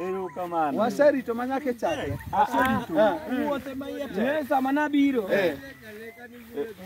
Erokamano. Waserito ma nyaka e chakre. Wuothe ma iye tek. Eh, sama nabiro, eh,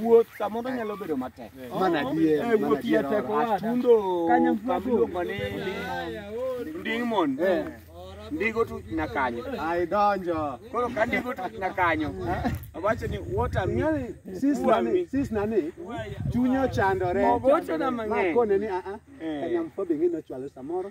wuoth samoro nyalo bedo matek. Mana adier, Eh, mana wuoth iye adier. tek owada. Atundo Kanyo mfuago. kamiluongo ni Nding- Ndingmon. Eh. Ndigo tu na kanyo. Ai donjo. Koro ka ndigo tu na kanyo. Awacho ni what am Ng'ani, sis nani, sis nani, chunye ochandore. Ogochona mang'eny. Ma kone ni, "Ah, ah, Eh. Kanyamfuo be ng'e nochwalo samoro.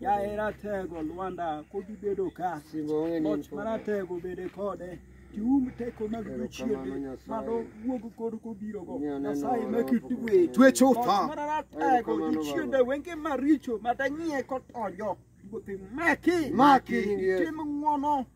Yaye ratego Lwanda pod ibedo ka Singo onge ni loch maratego bede kode tium teko mag jochiende mano wuog kod kobirogo nyasaye makitwe twe chutho maratego jochiende wenge maricho madanyie kotonjo wuothe maki maki tim ng'wono